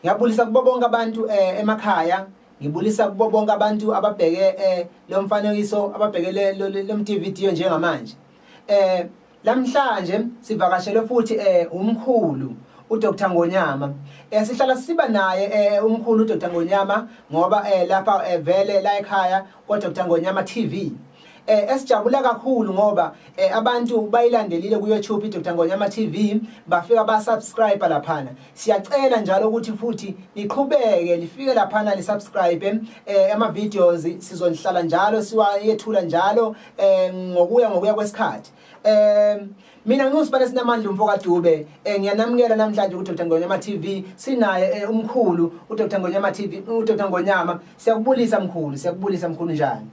Ngiyabulisa kubo bonke abantu eh, emakhaya ngibulisa kubo bonke abantu ababheke eh, lo mfanekiso ababheke le mTVD njengamanje eh lamhlanje sivakashelwe futhi eh umkhulu uDr Ngonyama eh sihlala siba naye eh umkhulu uDr Ngonyama ngoba eh lapha eh, vele la ekhaya KwaDr Ngonyama TV eh esijabula kakhulu ngoba eh, abantu bayilandelile ku YouTube iDr Ngonyama TV bafika ba subscribe laphana siyacela njalo ukuthi futhi niqhubeke lifike laphana li subscribe eh ama videos sizonihlala njalo siwayethula njalo eh ngokuya ngokuya kwesikhathi um mina ngiwusibane sinamandla umfo kadube um ngiyanamukela namhlanje udr ngonyama t v sinaye um umkhulu udr ngonyama t v udr ngonyama siyakubulisa mkhulu siyakubulisa mkhulu njani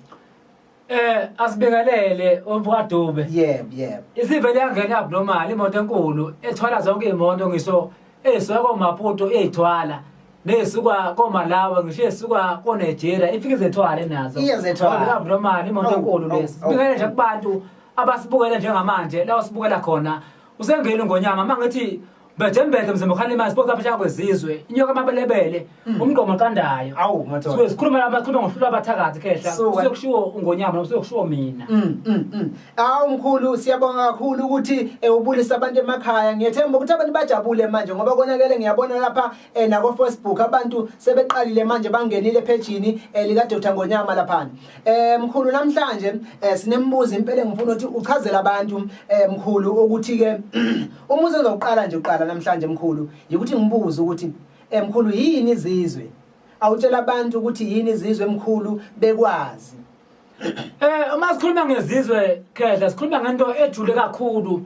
Eh asibekelele umfokadube. Yebo, yebo. Isivele yangena abnormal imoto enkulu ethwala zonke imoto ngisho esuka komaputo eyithwala nesuka komalawa ngisho esuka konigeria ifike izethwale nazo Iye zethwale. Ngoba abnormal imoto Awu, enkulu awu, lesi awu. sibikele nje kubantu abasibukela njengamanje la usibukela khona usengeni ngonyama uma ngithi mbethembethe mzimkhalima sibona phesheya kwezizwe inyoka amabelebele Hmm. umgqomo qandayo awu madoda so sikhuluma lapha sikhuluma ngohlula abathakathi khehla kusekushiwo ungonyama noma kusekushiwo mina mm, mm, mm. awu mkhulu siyabonga kakhulu ukuthi eh, ubulisa abantu emakhaya ngiyethemba ukuthi abantu bajabule manje ngoba konakele ngiyabona lapha eh, nako Facebook abantu sebeqalile manje bangenile ephejini eh, lika Dr Ngonyama lapha eh mkhulu namhlanje sinembuzo impela ngifuna ukuthi uchazela abantu mkhulu ukuthi ke umuzi ozoqala nje uqala namhlanje mkhulu yikuthi ngibuze ukuthi Emkhulu yini izizwe? Awutshela abantu ukuthi yini izizwe emkhulu bekwazi. Eh uma sikhuluma ngezizwe khehla sikhuluma ngento ejule kakhulu.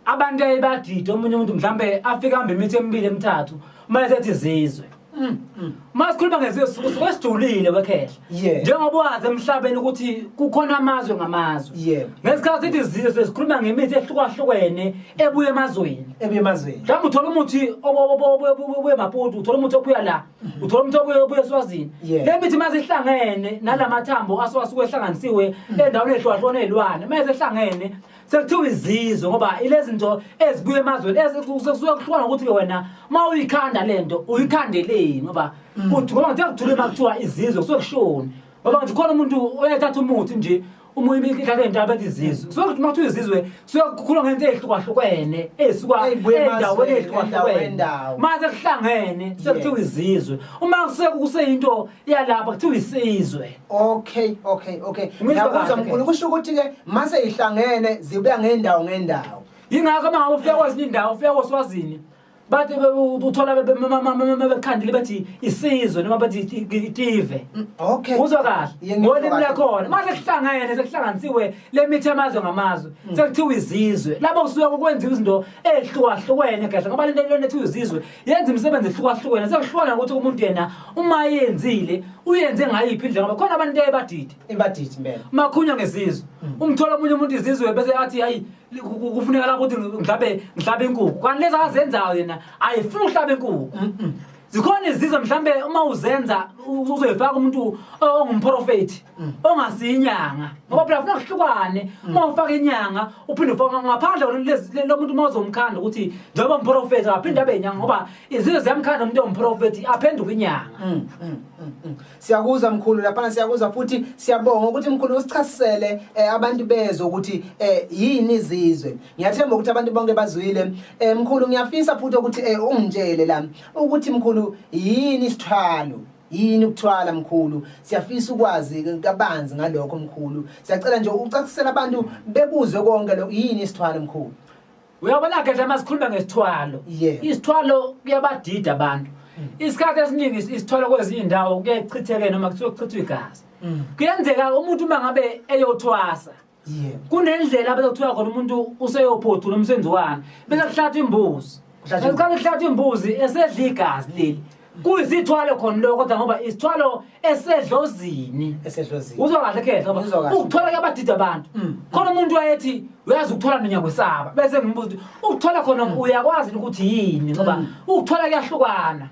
Abantu ayibadide omunye umuntu mhlambe afika hambe imithi emibili emithathu uma esethi izizwe. Mm, mm. Uma sikhuluma ngezizwe sisuke sijulile wekhehla. Yeah. Njengoba wazi emhlabeni ukuthi kukhona amazwe ngamazwe. Yeah. Ngesikhathi ithi izizwe sikhuluma ngemithi ehlukahlukene ebuye emazweni. Ebuye emazweni. Mhlawumbe uthola umuthi obuye Maputo, uthola umuthi obuya la, mhm. uthola umuthi obuye obuye eSwazini. Le mithi uma zihlangene nalamathambo aswasuke ehlanganisiwe mhm. endaweni ehlukahlukene elwane, uma esehlangene sekuthiwa izizwe ngoba ilezi nto ezibuya emazweni sekusuke kuhlukana ukuthi-ke wena uma uyikhanda le nto uyikhandeleni ngoba mm. kuthi ngoba ngithe kuthule uma kuthiwa izizwe kusuke kushoni ngoba ngithi khona umuntu oyethatha umuthi nje uma ibikhala into abethi izizwe so uma kuthiwa izizwe suke kukhuluma ngento ezihlukahlukene ezisuka endaweni ezihlukahlukene mase kuhlangene sekuthiwa izizwe uma kuseyinto yalapha kuthiwa isizwe okay okay okay ngiyakuzwa mkhulu kusho ukuthi ke mase ihlangene zibuya ngendawo ngendawo yingakho uma ufika kwezinye indawo ufika koswazini bathi uthola bekhandile bathi isizwe noma bathi itive mm, okay uzwa kahle ngolimi lakhona mase kuhlangene sekuhlanganisiwe lemithi amazwe ngamazwe mm. sekuthiwa izizwe lapho kusuka kwenziwa izinto ezihlukahlukene kahle ngoba lento lento ethiwa izizwe yenza imisebenzi ehlukahlukene sekuhlukana ukuthi umuntu yena uma yenzile uyenze ngayiphi indlela ngoba khona abantu nto ebadidi ebadidi impela makhunywa ngezizwe mm. umthola omunye umuntu izizwe bese athi hayi kufuneka la ukuthi mhlawumbe mhlawumbe inkukhu kanti lezi azenzayo yena ayifuni uhlaba inkukhu zikhona izizwe mhlawumbe uma uzenza uzoyifaka umuntu ongumprofethi Mm. ongasiyi inyanga ngoba phela funa kuhlukane mm. uma ufaka inyanga uphinde ufaka ngaphandle lo muntu uma uzomkhanda ukuthi njengoba mprofethi aphinde abe inyanga ngoba izinto ziyamkhanda umuntu ewumprofethi aphenduke inyanga mm, siyakuza mkhulu laphana siyakuza futhi siyabonga ukuthi mkhulu usichasisele eh, abantu bezwe ukuthi eh, yini izizwe ngiyathemba ukuthi abantu bonke bazwile eh, mkhulu ngiyafisa futhi ukuthi ungitshele la ukuthi mkhulu yini isithwalo yini ukuthwala mkhulu siyafisa ukwazi kabanzi ngalokho mkhulu siyacela nje ucacisela abantu bebuzwe konke lokho yini isithwalo mkhulu uyabona ke nje sikhuluma ngesithwalo isithwalo kuyabadida abantu mm. isikhathi esiningi isithwalo kwezinye indawo kuyechitheke noma kuthiwa kuchithwa igazi mm. kuyenzeka umuntu uma ngabe eyothwasa kunendlela abezokuthiwa khona umuntu useyophothula umsebenzi wani bese kuhlathwa imbuzi esikhathi kuhlathwa imbuzi esedla igazi leli kuyisithwalo khona lokho kodwa ngoba isithwalo esedlozini uzwa kahle khehla ukuthola ke abadida abantu mm. khona umuntu wayethi uyazi ukuthola mina ngiyakwesaba bese ngibuza ukuthi ukuthola khona mm. uyakwazi ukuthi yini ngoba mm. ukuthola kuyahlukana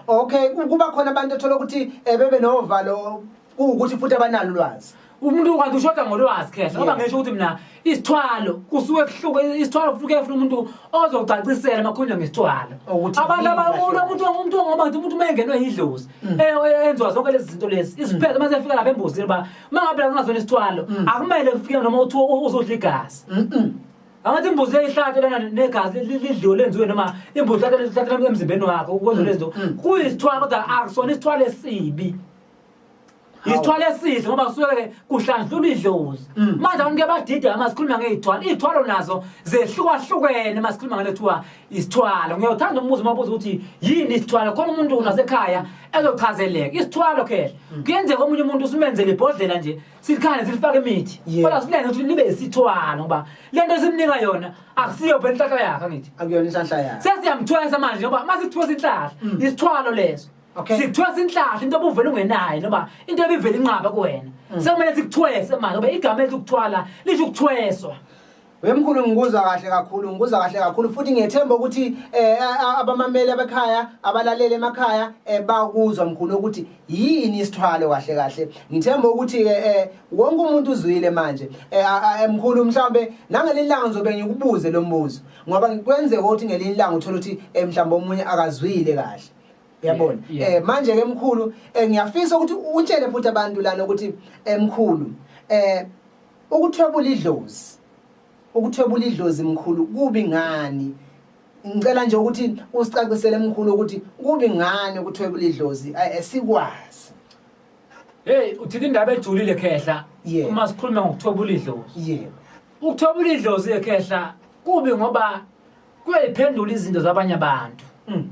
okay kuba khona abantu ethola ukuthi eh, bebe novalo kuwukuthi futhi abanalo ulwazi umuntu kanti ushoda ngolwazi khehla ngoba ngisho ukuthi mina isithwalo kusuke kuhluke isithwalo kufuke efuna umuntu ozocacisela makhulunywa ngesithwalo abantu abakulu umuntu umuntu ngoba ngithi umuntu umengenwe yidlozi mm. eh, eh, enziwa zonke lezi zinto lezi mm. isiphethe mase efika lapha embuzini uba uma ngabe la kungazona isithwalo mm. akumele kufike noma uthiwa uzodla igazi angathi imbuzi eyihlatshe lana negazi lidliwe lenziwe noma imbuzi ihlatshe emzimbeni wakho ukwenza lezinto kuyisithwalo kodwa akusona isithwalo esibi isithwalo esihle ngoba kusuke kuhlanjulwa idlozi mm. manje abantu ke badide ama sikhuluma ngeyithwalo iyithwalo nazo zehlukahlukene uma sikhuluma ngale kuthiwa isithwalo ngiyothanda umbuzo uma ubuza ukuthi yini isithwalo khona umuntu nasekhaya ezochazeleka isithwalo khehla mm. kuyenzeka omunye umuntu usimenzele ibhodlela nje sikhane silifake imithi kodwa silenze ukuthi libe isithwalo ngoba le nto esimnika yona akusiyo phela inhlahla yakhe angithi akuyona inhlahla yakhe sesiyamthwesa manje ngoba uma sithwesa inhlahla mm. isithwalo leso Okay. Sikuthiwa sinhlahla into obuvela ungenayo noma into ebivela inqaba kuwena. Mm. Sekumele sikuthwese manje ngoba igama elithi ukuthwala lisho ukuthweswa. Wemkhulu ngikuzwa kahle kakhulu ngikuzwa kahle kakhulu futhi ngiyethemba ukuthi eh abamameli abekhaya abalalele emakhaya eh, bakuzwa mkhulu ukuthi yini isithwalo kahle kahle ngithemba ukuthi ke eh, eh, wonke umuntu uzwile manje mkhulu mhlambe nangelilanga ngizobe ngikubuze lo mbuzo ngoba kwenzeka ukuthi ngelinye ilanga uthola ukuthi mhlambe omunye akazwile kahle yabona yeah. eh manje ke mkhulu eh, ngiyafisa ukuthi utshele futhi abantu lana ukuthi eh, mkhulu eh ukuthwebula idlozi ukuthwebula idlozi mkhulu kubi ngani ngicela nje ukuthi usicacisele mkhulu ukuthi kubi ngani ukuthwebula idlozi eh, eh, sikwazi hey uthini indaba ejulile khehla yeah. uma sikhuluma ngokuthwebula idlozi yebo yeah. ukuthwebula idlozi ekhehla kubi ngoba kuyayiphendula izinto zabanye abantu mm.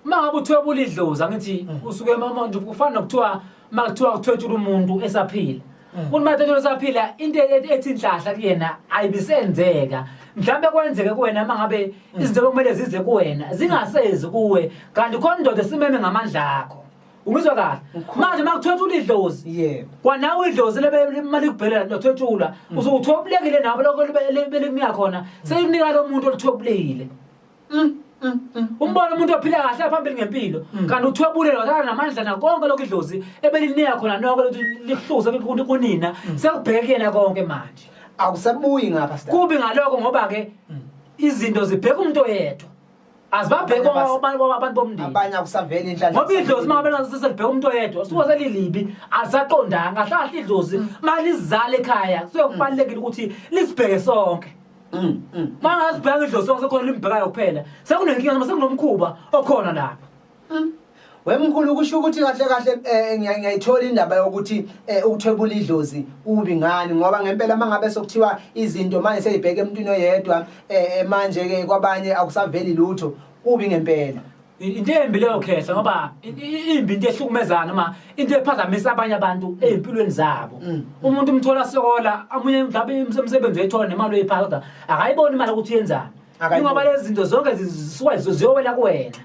uma ngabe uthwebula idlozi angithi mm. usuke manje kufana nokuthiwa uma kuthiwa kuthwetshula umuntu esaphila mm. umuntu mathethula esaphila into e-, e-, ethi inhlahla kuyena ayibisenzeka mhlawumbe kwenzeke kuwena uma ngabe izinto bekumele zize kuwena zingasezi kuwe kanti khona indoda esimeme ngamandla akho Umizwa kahle. Manje makuthetha ulidlozi. Yebo. Kwanawe idlozi lebe imali kubhelela nothwetshulwa. Mm. Uzokuthobulekile nabo lokho belikunika khona. Sekunika lo muntu olithobulile. Mm. Mm, umbona umuntu ophila kahle aphambili ngempilo kanti uthwebule lozana namandla nakonke lokho idlozi ebelinika khona noko lokuthi lihluze kunina sekubheke yena konke manje awusabuyi ngapha kubi ngaloko ngoba ke izinto zibheka umuntu oyedwa azibabhekwa abantu bomndeni abanye akusaveli inhlanhla ngoba idlozi uma bela sesibheka umuntu oyedwa usuke selilibi asaqondanga ahlahla idlozi mm. mali izale ekhaya soyokubalekile ukuthi lisibheke sonke mm, mm. mangazibheka idlozi sonke sekhona limbhekayo kuphela sekunenkinga noma sekunomkhuba okhona lapha Hmm. Wemkhulu kusho ukuthi kahle kahle eh, ngiyayithola indaba yokuthi eh, ukuthwebula idlozi kubi ngani ngoba ngempela mangabe sokuthiwa izinto manje seyibheke emntwini oyedwa eh, manje ke kwabanye akusaveli lutho kubi ngempela into embi leyo khehla ngoba imbi into ehlukumezana noma into ephazamisa abanye abantu ezimpilweni zabo mm. umuntu umthola sokola amunye mhlawumbe umsebenzi oyithola nemali oyiphatha kodwa akayiboni imali ukuthi yenzani ingoba lezi zinto zonke zisuke ziyowela kuwena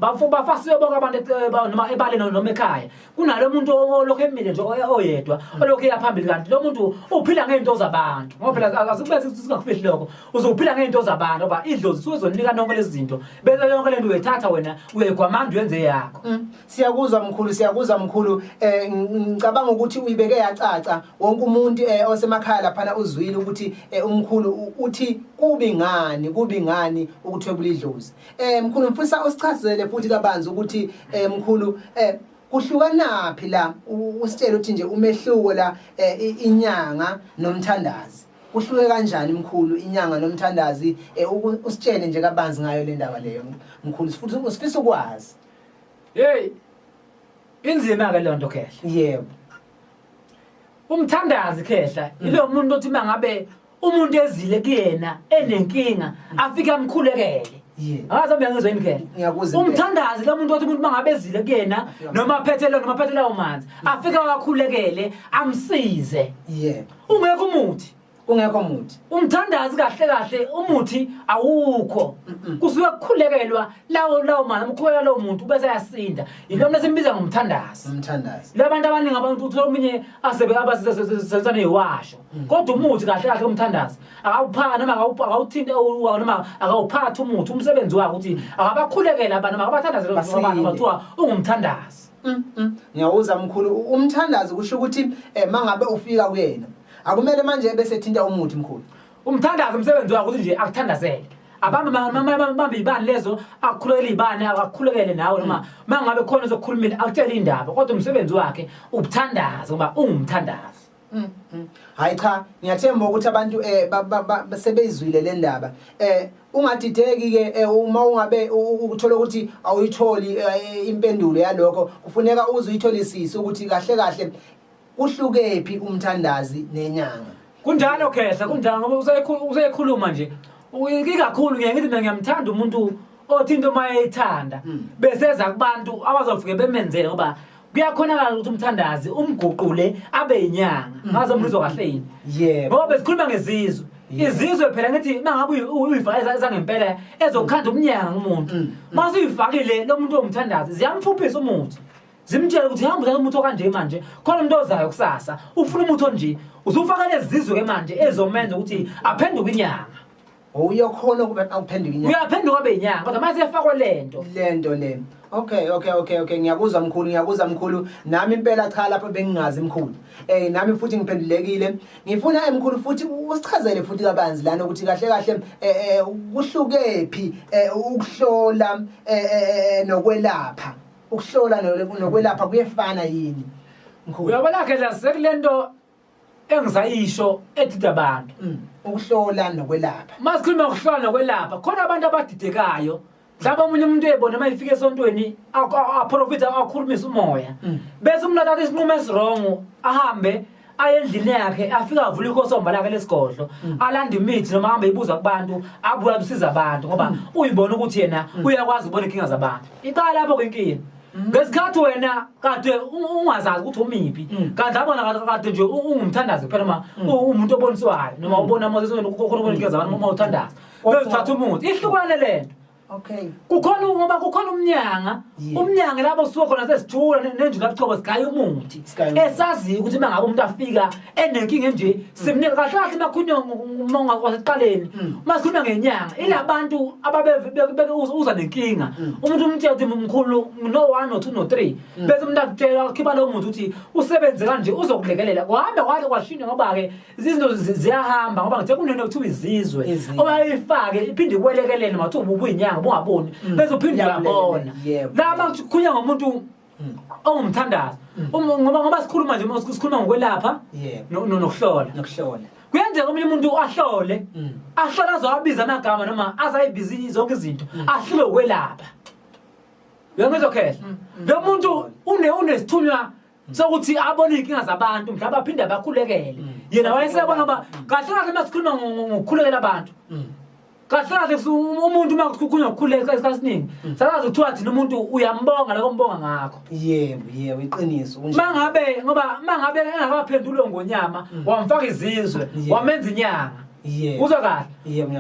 bafo bafasiwe bonke abantu eh, noma ebaleni noma ekhaya kunalo muntu olokhu emile nje oyedwa olokhu eya phambili kanti lo muntu uphila ngey'nto zabantu ngoba phela akazukubeza ukuthi singakufihli lokho uzophila ngey'nto zabantu ngoba idlozi suke zonika nonke lezi zinto bese yonke le nto uyayithatha wena uyayigwamanda uyenze yakho mm. Siyakuzwa mkhulu siyakuzwa mkhulu eh ngicabanga ukuthi uyibeke yacaca wonke umuntu eh osemakhaya laphana uzwile ukuthi eh, umkhulu uthi kubi ngani kubi ngani ukuthwebula idlozi eh mkhulu mfisa usichazele futhi kabanzi ukuthi eh mkhulu eh kuhlukanaphi la usitshela ukuthi nje umehluko la eh, inyanga nomthandazi kuhluke kanjani mkhulu inyanga nomthandazi eh, usitshele nje kabanzi ngayo le ndaba leyo mkhulu sifuthi usifisa ukwazi Hey. Inzima ke lonto khehla. Yebo. Umthandazi khehla mm. ilo muntu othi mangabe umuntu ezile kuyena enenkinga mm. afike amkhulekele. Angazi mina ngizwe indlela. Ngiyakuza. Umthandazi lo muntu othi umuntu mangabezile kuyena noma aphethele noma aphethele umanzi. Afika wakhulekele amsize. Yebo. Ungekho umuthi. kungekho muthi umthandazi kahle kahle umuthi awukho kusuke kukhulekelwa lawo lawo mali amkhulela lowo muntu bese ayasinda yilo mna simbiza ngomthandazi umthandazi labantu abaningi abantu uthola omunye asebe abasebenzisa neyiwasho mm. kodwa umuthi kahle kahle umthandazi akawuphaka noma akawuthinte uwa noma akawuphathi umuthi umsebenzi wakhe ukuthi akabakhulekele abantu makabathandaze lo mfana bathiwa ungumthandazi mm, mm. ngiyawuza mkhulu umthandazi kusho ukuthi eh, mangabe ufika kuyena akumele manje ebese thinta umuthi mkhulu umthandazo umsebenzi wakho ukuthi nje akuthandazele abantu bambe ibani lezo akukhulekele ibani akakhulekele nawe noma mm. mangabe khona zokukhulumile akutshele indaba kodwa umsebenzi wakhe ubuthandaza ngoba ungumthandazi mm, mm. hayi cha ngiyathemba ukuthi abantu eh sebeyizwile le ndaba eh ungadideki ke eh, uma ungabe ukuthola ukuthi awuyitholi eh, impendulo yalokho kufuneka uze uyitholisise ukuthi kahle kahle Kuhlukephi umthandazi nenyanga? Kunjalo khehla kunjalo ngoba usekhulu- usekhuluma nje U- ikakhulu ngiye ngithi mina ngiyamthanda umuntu othi into uma eyithanda Mm. beseza kubantu abazofike bemenzele ngoba kuyakhonakala ukuthi umthandazi umguqule abe yinyanga Mm. ngazo mlizwa kahle yini Yebo. ngoba besikhuluma ngezizwe Yeah. izizwe phela ngithi mangabe uyi- uyi- uyifaka eza- ezangempela ezokhanda umnyanga umuntu Mm. mase uyifakile lo muntu omthandazi ziyamfuphisa umuthi zimtshele ukuthi hamba uthatha umuthi okanje manje khona umuntu ozayo kusasa ufuna umuthi onje uzufaka lezi zizwe-ke manje ezomenza ukuthi aphenduke inyanga uyokhona ukuba awuphenduke inyanga uyaphenduka abe inyanga kodwa mase efakwe lento lento le okay okay okay okay ngiyakuzwa mkhulu ngiyakuzwa mkhulu nami impela cha lapho bengingazi mkhulu eh nami futhi ngiphendulekile ngifuna emkhulu futhi usichazele futhi kabanzi lana ukuthi kahle kahle eh, eh kuhlukephi eh, ukuhlola eh, nokwelapha ukuhlola no- nokwelapha kuyefana yini mkhulu uyabona ke la sekulento engisayisho edida abantu Mm, ukuhlola nokwelapha uma sikhuluma ngokuhlola nokwelapha khona abantu abadidekayo mhlawumbe omunye umuntu eyibona uma ifika esontweni aku- a- aprofithe akhulumise umoya Mm. bese umuntu athatha isinqumo esirongo ahambe aye endlini yakhe afike avule ikosomba lakhe lesigodlo mm. alande imithi noma ahambe ibuza kubantu abuya kusiza abantu ngoba mm. uyibona ukuthi yena mm. uyakwazi ukubona inkinga zabantu iqala lapho kwenkinga ngesikhathi wena kade ungazazi ukuthi umiphi kanti abona kade nje ungumthandazi kuphela noma umuntu oboniswayo noma ubona amazisweni ukhona ubona inkinga zabantu uma uthandaza bezithatha umuthi ihlukane lento Okay. Kukhona ngoba kukhona umnyanga, umnyanga lapho suka khona sesithula nenjula buchobo sigaya umuthi. Esazi ukuthi mangabe umuntu afika enenkinga enje, mm. simnike kahle kahle makhunywa umonga kwaseqaleni. Mm. Masikhuluma ngenyanga, ilabantu ababe uza nenkinga. Mm. Umuntu umtshela ukuthi mkhulu no 1 no 2 no 3. Bese umuntu akutshela khiba lo muntu ukuthi usebenze kanje uzokulekelela. Kuhambe kwahle kwashintsha ngoba ke izinto ziyahamba ngoba ngithe kunento kuthiwa izizwe owayifake iphinde ikwelekelele mathi ubuyinyanga bungaboni mm. bese uphinde uyabona laba kukhulunywa ngomuntu mm. ongumthandazo mm. um, ngoba ngoba sikhuluma nje sikhuluma ngokwelapha nokuhlola nokuhlola kuyenzeka omunye umuntu ahlole ahlole azowabiza amagama noma azayibiza zonke izinto ahlule ukwelapha uyangizwa khehla lo muntu unesithunywa sokuthi abone izinkinga zabantu mhlawumbe aphinde abakhulekele mm. yena wayesebona uba mm. kahle kahle uma sikhuluma ngokukhulekela abantu mm. kahle kahle umuntu uma kukhulunywa ngokukhuleka isikhathi esiningi sakazi kuthiwa thina umuntu uyambonga loko mbonga ngakho yebo yebo iqiniso uma ngabe ngoba uma ngabe engakaphendulwe ngonyama wamfaka izizwe wamenza inyanga uzwa kahle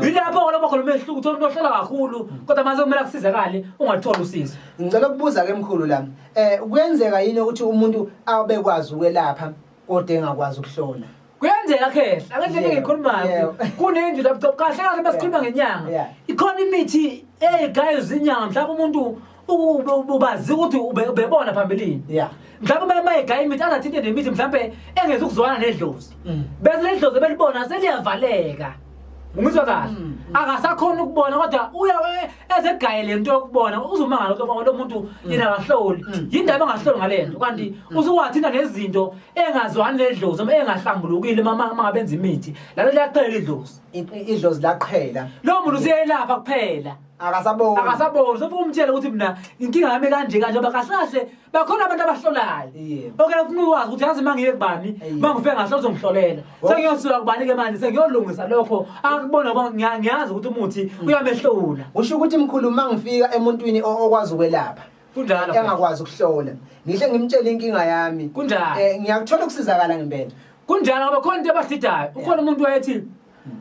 yilapho ngoloma khona umehluko uthola umuntu ohlala kakhulu kodwa mase kumele akusizakale ungathola usizo ngicela ukubuza-ke mkhulu lami Eh kuyenzeka yini ukuthi umuntu abekwazi ukwelapha kodwa engakwazi ukuhlola? kuyenzeka khehla angeke yeah, ngikhulumayo yeah. kunendlu lapho kahle kahle basikhuluma ngenyanga yeah. ikhona imithi eyigayo zinyanga mhlawumbe umuntu ubazi ukuthi ubebona phambilini yeah mhlawumbe uma mayegaya imithi azathinte nemithi mhlawumbe engezi ukuzwana nedlozi mm. bese ledlozi belibona seliyavaleka Ngizwa kahle. Mm, mm. Akasakhona ukubona kodwa uya ezegaye lento yokubona uzumangala ukuthi lo muntu mm. yena akahloli. Yindaba engahloli ngalento kanti usuwathinta nezinto engazwani nedlozi uma engahlambulukile mama mangabenza imithi. Lalo liyaphela idlozi. Idlozi laqhela. Lo muntu useyelapha kuphela. akasaboni akasaboni sofa umtshela ukuthi mina inkinga yami kanje kanje ngoba kahle kahle bakhona abantu abahlolayo oke ufuna ukwazi ukuthi yazi uma ngiye kubani uma ngifike ngahle uzongihlolela sengiyosuka kubani-ke manje sengiyolungisa lokho akubona ngiyazi ukuthi umuthi mm. uyamehlula usho ukuthi mkhulu uma ngifika emuntwini okwazi ukwelapha kunjalo engakwazi ukuhlola ngihle ngimtshele inkinga yami kunjalo um ngiyakuthola ukusizakala ngempela kunjalo ngoba khona into ebasidayo ukhona umuntu wayethi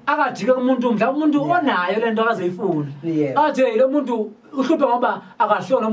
akajike umuntu mhlawumbe umuntu onayo lento akazoyifuna athi hey lo muntu uhluphe ngoba akahloni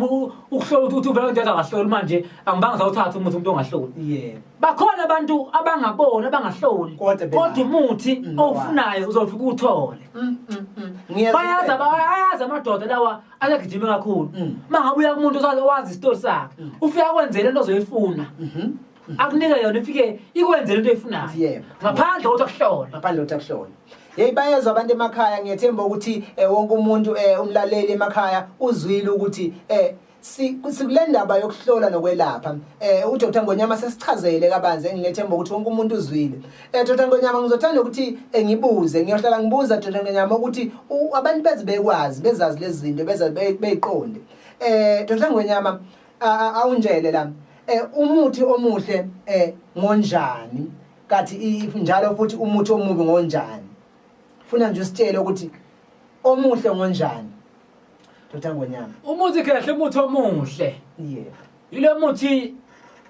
ukuhlola ukuthi uvela into akahloli manje angibanga sawuthatha umuthi umuntu ongahloli bakhona abantu abangaboni abangahloli kodwa umuthi mm, owufunayo uzofika uthole mm, mm, bayazi ayazi amadoda lawa ayagijime kakhulu mangabuya kumuntu owazi isitori sakhe ufika kwenzele into ozoyifuna mm-hmm. akunika yona ifike ikwenze lento eyifunayo Yebo. ngaphandle kokuthi akuhlole ngaphandle kokuthi akuhlole yeyi bayezwa abantu emakhaya ngiyethemba ukuthi eh, wonke umuntu eh, umlaleli emakhaya uzwile ukuthi eh, si- sikule ndaba yokuhlola nokwelapha um udr ngonyama sesichazele kabanzi engilethemba ukuthi wonke umuntu uzwile um dr ngonyama ngizothanda ukuthi eh, ngibuze ngiyohlala ngibuza dr ngonyama ukuthi u- abantu beze bekwazi bezazi lezi zinto bezazi be- beyiqonde um dr ngonyama awunjele la eh, umuthi omuhle eh, ngonjani kathi njalo futhi umuthi omubi ngonjani funa nje usitshele ukuthi omuhle ngonjani dota ngonyama umuthi kahle umuthi omuhle yeah yilo muthi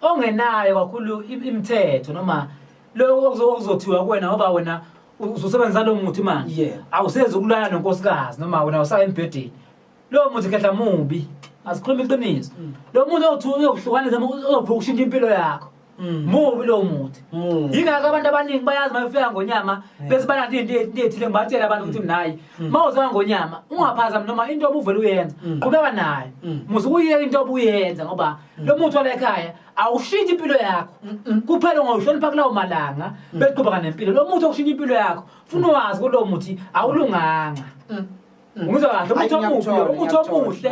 ongenayo kakhulu imithetho noma lokho okuzothiwa kuwena ngoba wena uzosebenzisa lo muthi manje awusezi ukulala nonkosikazi noma wena usaya embhedeni lowo muntu khehla mubi asikhuluma iqiniso mm. lo muntu oyokuhlukanisa ozophuka ushintsha impilo yakho mm. mubi lowo muthi mm. yingakho abantu abaningi bayazi uma befika ngonyama bese bananto into ethile ngibatshela abantu ukuthi mnayi uma uzeka ngonyama ungaphazami noma into obuvele uyenza qhubeka nayo muze ukuyeka into obuyenza ngoba lo muthi wala ekhaya awushintshe impilo yakho kuphela ungawuhlonipha kulawo malanga beqhubeka nempilo lo muthi okushintsha impilo yakho funa wazi kulowo muthi awulunganga Mm. umuzwa kahle umuthi omubi lo umuthi omuhle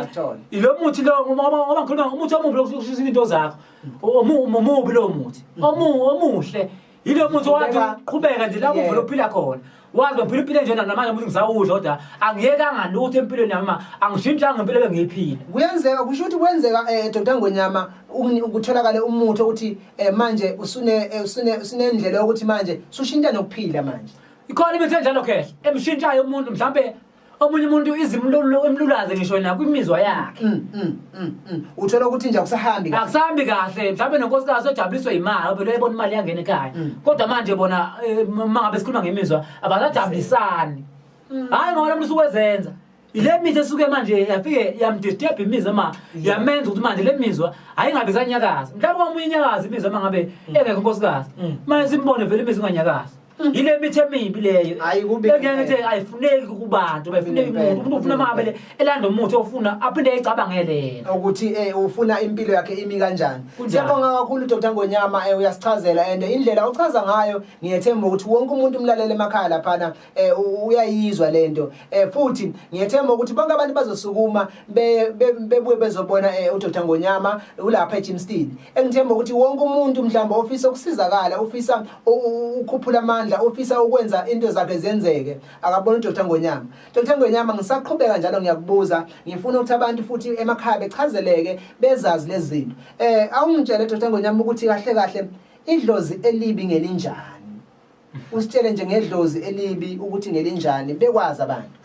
ilo muthi lo ngoba ngikhuluma umuthi omubi lokushisa into zakho mm. omubi lo muthi mm. omuhle yilo muthi wathi uqhubeka nje lapho uvela uphila khona wazi ngiphila impilo enjena namanje ukuthi ngisawudla kodwa angiyekanga lutho empilweni yami ma angishintshanga impilo bengiyiphila kuyenzeka kusho ukuthi kwenzeka um eh, dr ngonyama kutholakale umuthi okuthi um manje eh, usunendlela yokuthi manje sushintsha nokuphila manje ikhona imithi enjalo khehla emshintshayo umuntu mhlawumbe omunye umuntu izimlulu emlulaze ngisho yena kwimizwa yakhe mm, mm, mm, uthola ukuthi nje akusahambi akusahambi kahle mhlawumbe nonkosikazi ojabuliswe imali obelo ebona imali yangena ekhaya kodwa manje bona uma eh, ngabe sikhuluma ngemizwa abasajabulisani hhayi ngoba lo muntu usuwezenza ile mithi esuke manje yafike yamdisturb imizwa ma yamenza ukuthi manje le mizwa ayingabe isanyakaza mhlawumbe kwamunye inyakaza imizwa uma ngabe mm. engekho unkosikazi mm. manje simbone vele imizwa inganyakazi mm. yile mithi emibi leyo engeke ngithi ayifuneki kubantu bayifuneki umuntu umuntu ufuna mabele elanda umuthi ofuna aphinde ayicabangele yena ukuthi eh ufuna impilo yakhe imi kanjani siyabonga kakhulu Dr Ngonyama eh, uyasichazela and indlela uchaza ngayo ngiyethemba ukuthi wonke umuntu umlalele emakhaya lapha eh uyayizwa lento eh futhi ngiyethemba ukuthi bonke abantu bazosukuma bebuye bezobona eh, uDr Ngonyama ulapha eGymstead engithemba ukuthi wonke umuntu mhlawumbe ofisa ukusizakala ofisa ukukhuphula amandla ofisa ukwenza into zakhe zenzeke akabona uDr Ngonyama Dr Ngonyama ngisaqhubeka njalo ngiyakubuza ngifuna ukuthi abantu futhi emakhaya bechazeleke bezazi lezi zinto eh awungitshele Dr Ngonyama ukuthi kahle kahle idlozi elibi ngelinjani usitshele nje ngedlozi elibi ukuthi ngelinjani bekwazi abantu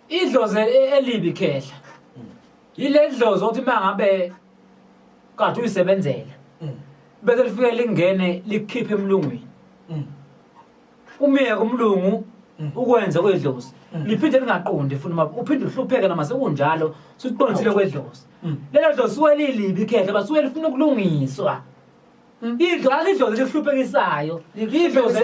idlozi e- elibi khehla yile dlozi othi uma ngabe kade uyisebenzela Mm, bese lifike lingene likhiphe emlungwini mm, umyeke umlungu Mm. ukwenze kwedlozi Mm. liphinde lingaqondi futhi uma uphinde uhlupheke noma sekunjalo suqondisile kwedlozi mm. lelo dlozi suke lilibi khehla basuke lifuna ukulungiswa Idlozi alidlozi lihluphenisayo. Idlozi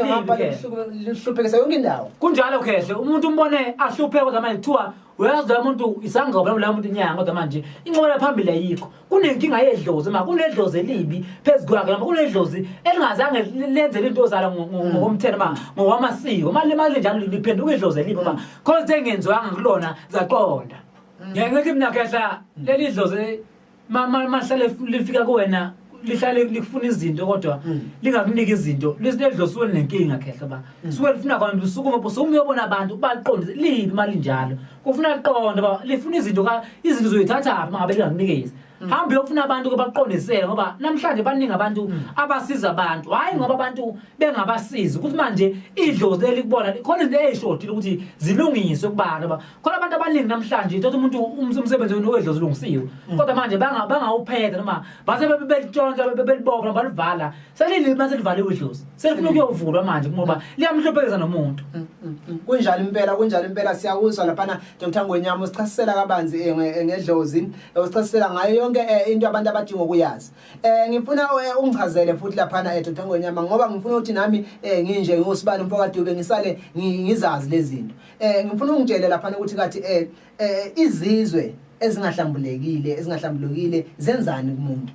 lihluphekisa yonke indawo. Kunjalo khehle umuntu umbone ahluphe kodwa manje kuthiwa uyazi lo muntu isangoma noma lo muntu inyanga kodwa manje inqola phambili ayikho. Kunenkinga yedlozi ma kunedlozi elibi phezu kwakhe noma kunedlozi elingazange lenze into ozala hmm. ngokomthetho ma ngokwamasiko. Mali mali njalo liphenduka idlozi elibi ma khona sengenziwanga kulona zaqonda. Hmm. Ngeke ngithi mina khehla leli dlozi mama mahlale lifika kuwena lihlale likufuna izinto kodwa hmm. lingakuniki izinto lisidedlosiwe nenkinga khehla ba hmm. suke lifuna kwantu usukume bo sumuyobona abantu ubaqonde libi mali njalo kufuna liqonde ba lifuna izinto ka izinto zoyithatha apha mangabe lingakunikezi hmm. hamba uyofuna abantu kubaqondisele ngoba namhlanje baningi abantu abasiza abantu hayi ngoba abantu bengabasizi ukuthi manje idlozi elikubona khona into eyishodile ukuthi zilungiswe kubantu khona abantu abaningi namhlanje ithothi umuntu umsebenzi wedlozi ulungisiwe mm. kodwa manje bangawuphetha noma base belitshontsha belibopha balivala selilima selivaliwe idlozi selifuna ukuyovulwa manje ngoba liyamhluphekeza nomuntu mm, mm, kunjalo impela kunjalo impela siyakuzwa laphana Dr Ngwenyama usichasisela kabanzi eh, eh, ngedlozi eh, usichasisela ngayo yonke into abantu abadinga ukuyazi eh ngifuna ungichazele futhi laphana Dr Ngwenyama ngoba ngifuna ukuthi nami nginje ngusibani umfoka Dube ngisale ngizazi lezinto Eh ngifuna ungitshele lapha ukuthi kathi eh, eh izizwe ezingahlambulekile ezingahlambulukile zenzani kumuntu.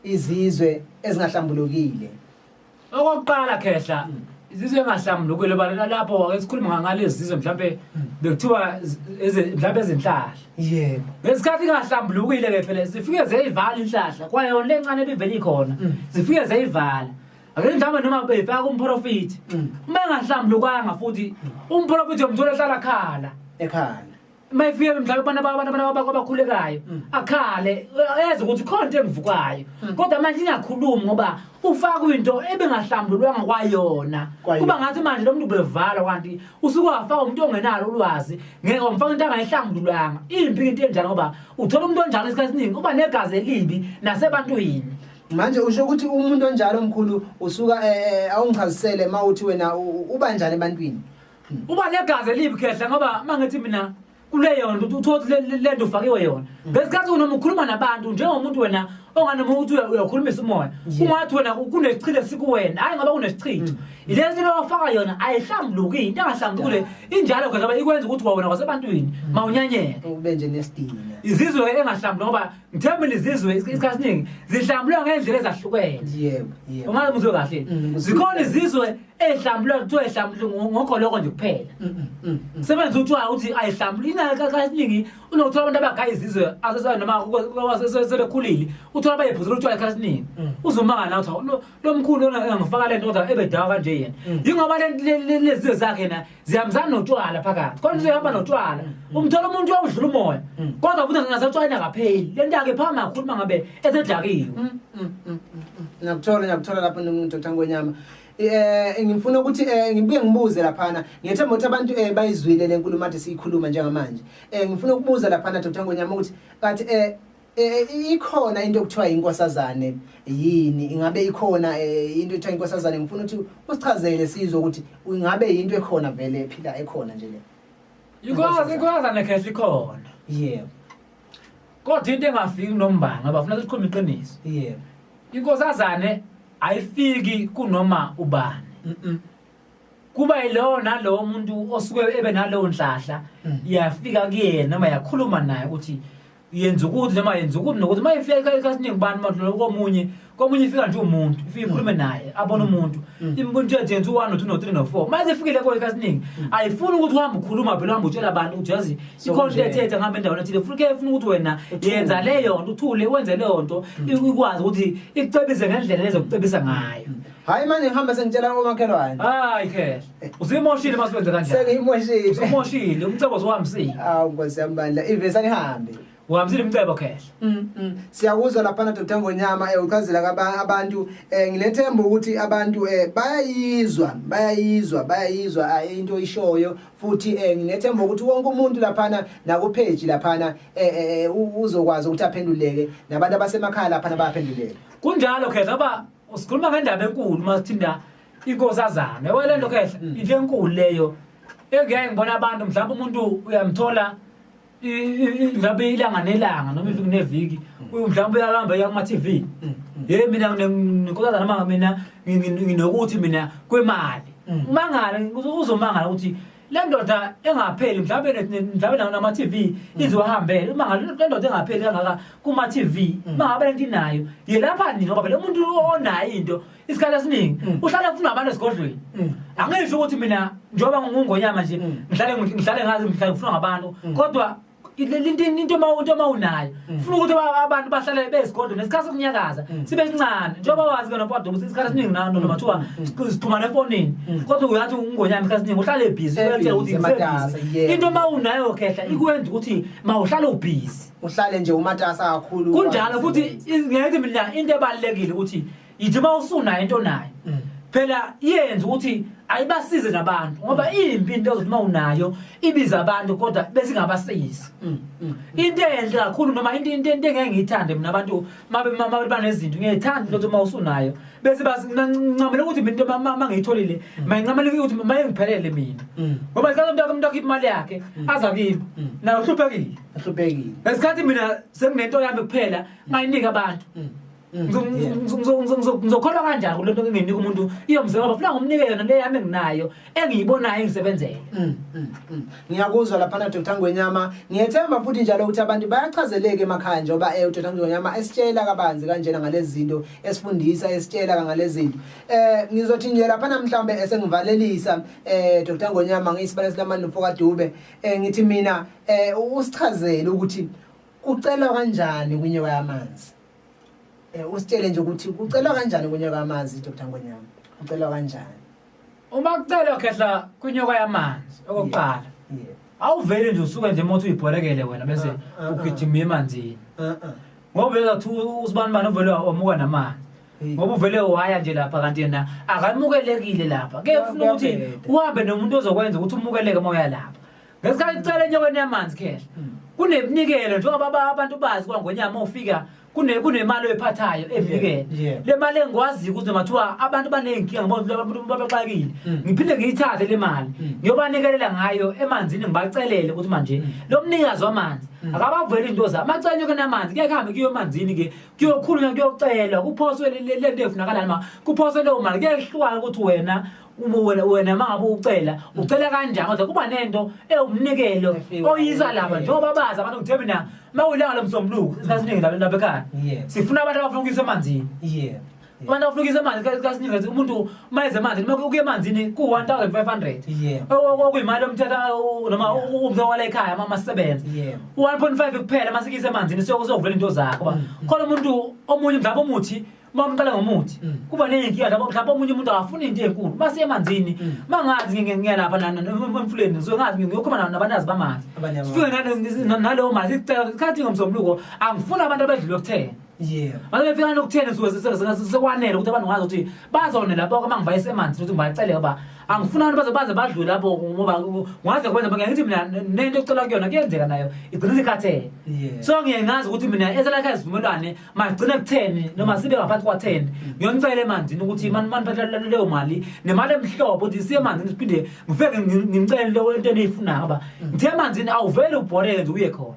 Izizwe ezingahlambulukile. Okokuqala khehla hmm. izizwe engahlambulukile balala lapho wake sikhuluma ngalezi zizwe mhlambe hmm. bekuthiwa mhlambe ezinhlahla. Yebo. Ngesikhathi ingahlambulukile ke phela zifike zeyivala inhlahla kwayona lencane ebivele ikhona. Hmm. Zifike zeyivala. Ake mhlawumbe noma befaka umprofiti. Mm. Uma engahlambulukanga futhi umprofiti yomthola ehlala khala. Ekhala. Uma efike mhlawumbe abantu abantu abantu abakho abakhulekayo Mm. akhale eze ukuthi khona into engivukayo. Mm. Kodwa manje ingakhulumi ngoba ufaka into ebengahlambululwanga kwayona. Kwayona. Kuba ngathi manje lo muntu ubevala kanti usuke wafaka umuntu ongenalo ulwazi ngeke umfaka into angayihlambululanga. Impi into enjalo ngoba uthola umuntu onjalo isikhathi esiningi uba negazi elibi nasebantwini. manje usho ukuthi umuntu onjalo mkhulu usuka eh, eh, awungichazisele uma uthi wena uba njani ebantwini uba negazi elibi khehla ngoba uma ngithi mina kuleyo nto uthothi le nto ufakiwe yona mm. ngesikhathi unoma ukhuluma nabantu njengomuntu wena onganoma ukuthi uyakhulumisa umoya ungathi wena kunesichile esikuwena hhayi ngoba kunesichitho mm. ile nto lowafaka yona ayihlambuluki into engahlambulukile injalo khona ikwenza ukuthi wawena kwasebantwini mm. mawunyanyeke izizwe engahlambuluki ngoba Ngithemba izizwe isikhathi esiningi zihlambulwa ngendlela ezahlukene. Yebo, yebo. Ungazi umuzwe kahle. Mm, Zikhona izizwe ezihlambulwa kuthiwa ezihlambulwa ngogoloko nje kuphela. Mm, mm, Sebenza uthiwa ukuthi ayihlambulwa inaka kasiningi unokuthola abantu abagaya izizwe asesona noma kwasesebekhulile uthola bayephuza uthiwa isikhathi esiningi. Uzomanga nawe uthi lomkhulu ona engifaka lento kodwa ebedawa kanje yena mm. yingoba lezi zakhe na ziyamzana notshwala phakathi kodwa uzohamba mm. notshwala mm. umthola umuntu uyawudlula umoya kodwa futhi ngingasatshwayina kapheli lento yakhe phama kakhulu mangabe esedakiwe ngiyakuthola ngiyakuthola lapho nomuntu othangwenyama eh ngifuna ukuthi eh, ngibuye ngibuze laphana ngiyethemba ukuthi abantu eh, bayizwile lenkulumo athi siyikhuluma njengamanje eh ngifuna ukubuza laphana Dr Ngonyama ukuthi kathi eh Eh, eh, ikhona into okuthiwa inkosazane yini ingabe ikhona eh, into ekuthiwa inkosazane ngifuna ukuthi usichazele sizwe ukuthi ingabe yinto ekhona vele ephila ekhona nje le Yikwazi inkosazane khehla ikhona yebo kodwa into engafiki nombanga ngoba funa sikhuluma iqiniso yebo inkosazane ayifiki kunoma ubani mhm kuba yilowo nalowo muntu osuke ebe nalowo nhlahla mm. yafika kuyena noma yakhuluma naye ukuthi yenza ukuthi noma yenza ukuthi nokuthi uma ifika ekhaya ekhasiningi ubani umadlula komunye komunye ifika nje umuntu ifike ikhulume naye abone umuntu imbona ukuthi yenza u-one no-two no-three no-four uma sefikile kuyo ekhasiningi ayifuni ukuthi uhambe ukhuluma phela uhambe utshela abantu ukuthi yazi ikhona into ethethe ngihamba endaweni ethile funa ke funa ukuthi wena yenza leyo nto uthule wenze leyo nto ikwazi ukuthi ikucebise ngendlela lezokucebisa ngayo hhayi manje ngihambe sengitshela omakhelwane hayi khehla Usimoshile masikwenze kanjani? Sengimoshile. Usimoshile umcebo zohambisile. Awu Nkosi yami bandla ivesa nihambe. Uhambisile umcebo khehla. Mm. mm. Siyakuzwa lapha na Dr Ngonyama eh uchazela kaba- abantu eh ngilethemba ukuthi abantu eh bayayizwa bayayizwa bayayizwa ah, into ishoyo futhi eh ngilethemba ukuthi wonke umuntu lapha na naku page lapha na eh, eh eh, u- uzokwazi ukuthi aphenduleke nabantu abasemakhaya lapha na bayaphenduleka. Kunjalo khehla ba usikhuluma ngendaba enkulu masithinda inkosi azame yabo le nto kehla Mm. into enkulu leyo engeke ngibona abantu mhlawumbe umuntu uyamthola i- i- i- mhlawumbe ilanga nelanga noma iviki neviki uyu mhlawumbe uyahamba uya kuma-tv Mm, mm. ye mina nginkosazana manga mina ngi- ngi- nginokuthi mina kwemali Mm. umangala uzo- uzomangala ukuthi le ndoda engapheli mhlawumbe ne- ne- mhlawumbe na- nama-tv Mm. izohambela umangala le le ndoda engapheli kangaka kuma-tv Mm. mangabe le nto inayo yelapha nini ngoba phela umuntu onayo into isikhathi esiningi mm. uhlale ufuna abantu esigodlweni mm. angisho ukuthi mina njengoba ngingungonyama nje mm. ngihlale ngihlale ngazi ngihlale ngifuna ngabantu kodwa into uma unayo mm. funa ukuthi abantu bahlale bezigodlo nesikhathi sokunyakaza mm. sibe sincane njengoba wazi kona kodwa ukuthi isikhathi esiningi nano mm. nomathiwa sixhumana efonini kodwa uyathi ungonyama isikhathi esiningi uhlale busy uyathi ukuthi ngisebhizi into uma unayo khehla ikwenza ukuthi mawuhlale ubhizi uhlale nje umatasa kakhulu kunjalo futhi ngiyathi mina into ebalekile ukuthi yithi uma usunayo into nayo mm. phela yenza ukuthi ayibasize nabantu ngoba mm. impi into ezothi uma unayo ibiza abantu kodwa bese ingabasizi mm, mm, into enhle kakhulu noma into into into engeke ngiyithande mina abantu mabe mama banezinto ngiyithanda ukuthi uma usunayo bese bancamela ukuthi mina into mama ngiyitholile mayincamela ukuthi maye ngiphelele mina ngoba isikhathi umntaka umntaka imali yakhe aza kimi nayo uhluphekile uhluphekile ngesikhathi mina senginento yami kuphela ngayinika abantu ngizokholwa kanjani kule nto nginginika umuntu iyomzeka ngoba funa ngomnike yona le yami enginayo engiyibonayo engisebenzele mm, mm, mm. ngiyakuzwa laphana dr ngwenyama ngiyethemba futhi njalo ukuthi abantu bayachazeleka emakhaya njengoba um eh, udr ngwenyama esitshela kabanzi kanjena ngalezi zinto esifundisa esitshela kangalezi zinto um ngizothi nje laphana mhlawumbe esengivalelisa um eh, dr ngwenyama ngiyisibane silamandla umfokadube um ngithi mina um usichazele ukuthi kucelwa kanjani kunyewa yamanzi Eh, usitshele nje ukuthi kucelwa kanjani kunyoka amanzi Dr Ngonyama kucelwa kanjani uma kucelwa khehla kunyoka yamanzi okokuqala awuveli nje usuke nje mothi uyibhorekele wena bese ah, ah, ah. ugijima emanzini ngoba uvela kuthi usibani bani uvele wamuka namanzi ngoba uvele waya nje lapha kanti yena akamukelekile lapha ke funa ukuthi uhambe nomuntu ozokwenza ukuthi umukeleke uma uya lapha ngesikhathi kucela enyaweni yamanzi khehla hmm. kuneminikelo njengoba abantu bazi kwangonyama ufika kunemali oyiphathayo evikele le mali engikwaziyo ukuthi noma kuthiwa abantu baney'nkinga babaxakile mm. ngiphinde ngiyithathe le mali mm. ngiyobanikelela ngayo emanzini ngibacelele ukuthi manje mm. lo mnikazi wamanzi akabaveli into zabo amacenyo ke namanzi kuye kuhambe kuyo emanzini ke kuyokhulunywa kuyocelwa kuphoswe le nto efunakalani ma kuphoswe leyo mali kuyehlukana ukuthi wena wena wena mangabe ucela ucela kanjani kodwa kuba nento ewumnikelo oyisa laba njengoba bazi abantu ukuthi mina mawulanga lomsombuluko sasiningi labantu lapha ekhaya sifuna abantu abafuna ukuyisa emanzini yebo abantu abafuna ukuyisa emanzini kasiningi ukuthi umuntu mayeze emanzini uma ukuya emanzini ku-1500 okuyimali yomthetho noma umthetho wala ekhaya uma masebenza 1.5 kuphela uma sikuyisa emanzini sokuvula into zakho mm. khona umuntu omunye mhlawumbe umuthi uma umqala ngomuthi mm. kuba ney'nkinga lapho mhlawumbe omunye umuntu akafuni into enkulu uma siyemanzini mm. uma ngazi ngiyalapha emfuleni ngisuke ngazi ngiyokhuluma nabanazi bamanzi sifike naleyo manzi isikhathi ngomsombuluko angifuni abantu abedlule okuthena manje befika nokutheni sekwanele ukuthi abantu ngazi ukuthi bazone lapho uma ngibayise emanzini ukuthi ngibaceleke uba angifuni abantu baze baze badlule lapho ngoba ngaze kwenza ngiya ngithi mina nento ecela kuyona kuyenzeka nayo igcina isikhathele so ngiye ngazi ukuthi mina eselakhe izivumelwane magcine kutheni noma sibe ngaphansi kwatheni ngiyonicela emanzini ukuthi maniphathelele leyo mali nemali emhlobo ukuthi siye emanzini siphinde ngifeke ngimcele leyo into eniyifunayo ngoba mm. ngithe emanzini awuvele ubhoreke nje uye khona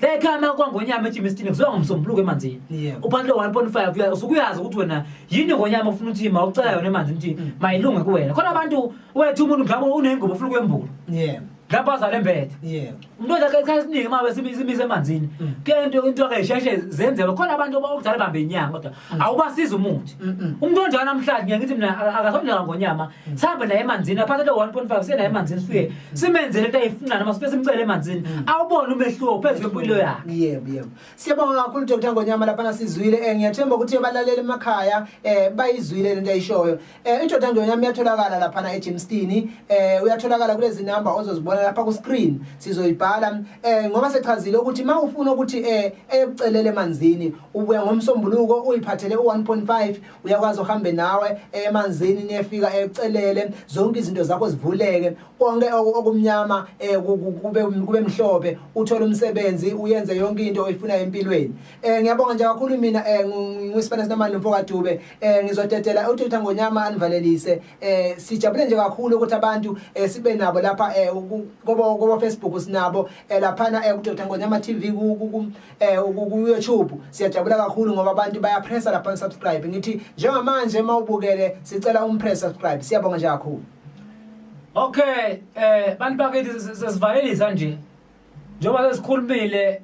lekhama kwangonyama ejima esitini kuziwa ngomsombuluko emanzini uphansi lo-one point five usukuyazi ukuthi wena yini ngonyama ofuna ukuthi ma ucela yona emanzini ukuthi mm. mayilunge kuwena khona abantu wethu umuntu mhlawumbe unengubo ofuna ukwembula lapho azale mbethe yebo umuntu odla isikhathi esiningi uma besimiza imizi emanzini Mm. kuyento into ke sheshe zenzeke khona abantu abakudala bambe inyanga kodwa awubasiza umuthi Mm. Mm-mm. umuntu onjalo namhlanje ngiye ngithi mina aka- akasondela ngonyama Mm. sihambe naye emanzini aphathe le 1.5 siye naye emanzini sifike simenzele into ayifuna noma sibe simcele emanzini Mm. awubone umehluko phezu kwempilo yakhe yebo yebo siyabonga kakhulu dr ngonyama laphana sizwile um ngiyathemba ukuthi abalaleli emakhaya um bayizwile le nto ayishoyo Eh indoda nje yami yatholakala lapha na eGymstini eh uyatholakala kulezi number ozozibona lapha ku screen sizoyibhala eh ngoba sechazile ukuthi mawufuna ukuthi eh eyokucelele emanzini ubuya ngomsombuluko uyiphathele u1.5 uyakwazi uhambe nawe eh, emanzini niyefika ecelele eh, zonke izinto zakho zivuleke konke okumnyama eh, kube kube mhlophe uthole umsebenzi uyenze yonke into oyifuna empilweni Eh ngiyabonga nje kakhulu mina eh ngisibana sinamali nomfo kaDube eh ngizodedela uthutha ngonyama anivalelise eh sijabule nje kakhulu ukuthi abantu eh sibe nabo lapha eh kobo kobo Facebook sinabo eh laphana eh kuthutha ngonyama TV ku eh ku YouTube siyajabula kakhulu ngoba abantu bayapressa lapha subscribe ngithi njengamanje mawubukele sicela umpress subscribe siyabonga nje kakhulu Okay eh bantu bakithi sesivalelisa nje njengoba sesikhulumile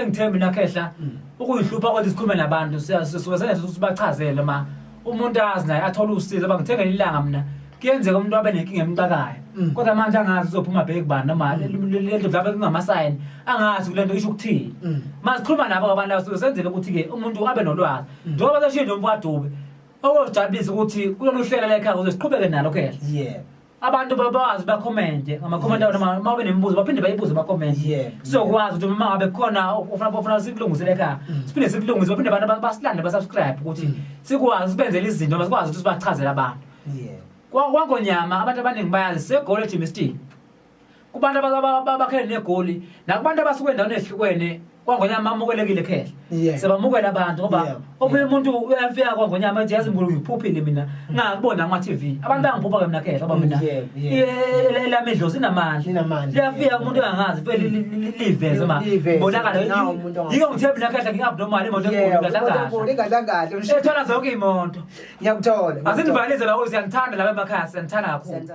engithembi nakhehla ukuyihlupha kodwa sikhulume nabantu sisuke senza ukuthi bachazele ma umuntu azi naye athole usizo uba ngithengele ilanga mina kuyenzeka umuntu abe nenkinga emxakayo mm. kodwa manje angazi uzophuma bheki kubani noma mm. lento mhlawumbe kungamasayini angazi kule nto isho ukuthini mm. ma sikhuluma nabo abantu labo suke senzele ukuthi-ke umuntu abe nolwazi njengoba seshiye nje umfo adube okuzojabulisa ukuthi kulolu hlela lekhaya uze siqhubeke nalo kuyena abantu babazi bakhomente ngamakhomente yes. noma uma benemibuzo baphinde bayibuze bakhomente yeah. sizokwazi ukuthi uma ngabe khona ofuna ofuna sikulungisele ekhaya mm. siphinde sikulungise baphinde abantu basilande basubscribe ukuthi mm. sikwazi sibenzele izinto noma sikwazi ukuthi sibachazele abantu yeah. kwangonyama abantu abaningi bayazi segolo gymnastic kubantu abakhele negoli nakubantu abasuke endaweni ezihlukene kwangonyama amukelekile khehla yeah. sebamukela abantu ngoba yeah. omunye umuntu uyafika kwangonyama ethi yazi ngulu ngiphuphile mina mm. ngakubona kuma TV abantu bangiphupha ke mina khehla ngoba mina elami idlozi inamandla liyafika umuntu angazi vele liveze ma bonakala yiko ngithe mina khehla ngingabnormal imoto enkulu ingadlangadla ethola zonke imoto ngiyakuthola azindivalize lawo siyangithanda laba emakhaya siyangithanda kakhulu